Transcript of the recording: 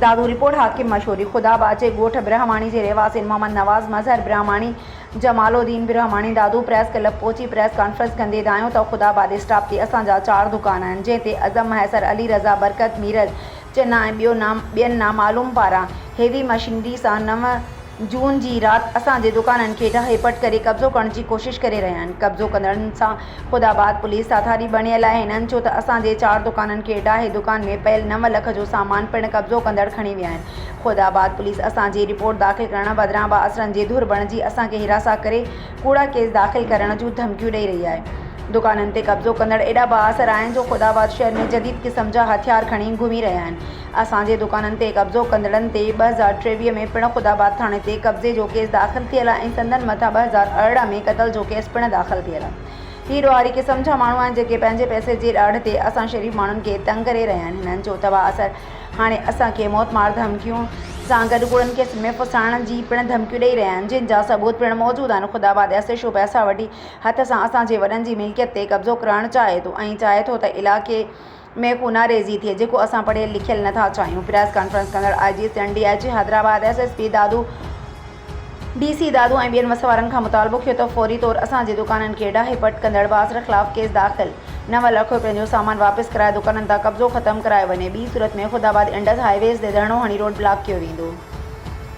Dadu, report, Hakim Mashori, Khuda Bachi ڳوٺ برهماڻي جي رهواسين محمد نواز، مظهر برهماڻي، جمال الدين برهماڻي دادو پريس ڪلب پهچي پريس ڪانفرنس ڪندي ڌايون ته خدا آباد اسٽاپ تي اسان جا چار دڪان آهن جنهن تي اعظم مهيسر، علي رضا، برڪت، ميرل، چنا ۽ ٻيو نا ٻين نامعلوم پاران هيوي مشينري سان نو جون جي رات اسان جي دڪانن کي ڊاهي پٽ ڪري قبضو ڪرڻ جي ڪوشش ڪري رهيا آهن قبضو ڪندڙن سان خداآباد پوليس ساٿاري بڻيل آهي هنن چيو ته اسان جي چار دڪانن کي ڊاهي دڪان ۾ پيل نو لک جو سامان پڻ قبضو ڪندڙ کڻي ويا آهن خداآباد پوليس اسان جي رپورٽ داخل ڪرڻ بدران بااثرن جي ڌر بڻجي اسان کي هراسان ڪري ڪوڙا ڪيس داخل ڪرڻ جون ڌمڪيون ڏئي رهي آهي. دڪانن تي قبضو ڪندڙ ايڏا بااثر آهن جو خدا آباد شهر ۾ جديد قسم جا هٿيار کڻي گهمي رهيا آهن. اسان جي دڪانن تي قبضو ڪندڙن تي ٻه هزار ٽيويهه ۾ پڻ خدا آباد ٿاڻي تي قبضي جو ڪيس داخل ٿيل آهي ۽ سندن مٿان ٻه هزار ارڙهن ۾ قتل جو ڪيس پڻ داخل ٿيل آهي. هي ڏوهاري قسم جا ماڻهو آهن جيڪي پنهنجي پئسي جي ڏاڍ تي اسان شريف ماڻهن کي تنگ ڪري رهيا آهن. هنن جو تباهه اثر هاڻي اسان کي موت مار ڌمڪيون سان گڏ ڪوڙن کي سم پسائڻ جي پڻ ڌمڪيون ڏئي رهيا آهن جن جا ثبوت پڻ موجود آهن خدا بادياسي شو پئسا وٺي هٿ سان اسان جي وڏن جي ملڪيت تي قبضو ڪرڻ چاهي ٿو ۽ چاهي ٿو ته علائقي ۾ خوناريزي ٿئي جيڪو اسان پڙهيل لکيل نٿا چاهيون پريس ڪانفرنس ڪندڙ I G Sindh D I G Hyderabad S S P Dadu D C Dadu ۽ ٻين وس وارن کان مطالبو ڪيو ته فوري طور اسان جي دڪانن کي ڊاهي پٽ ڪندڙ بازر خلاف ڪيس داخل، نو لک رپين جو سامان واپس ڪرائي دڪانن تان قبضو ختم ڪرايو وڃي، ٻي صورت ۾ Khudabad Indus highways تي ڌرڻو هڻي روڊ بلاڪ ڪيو ويندو.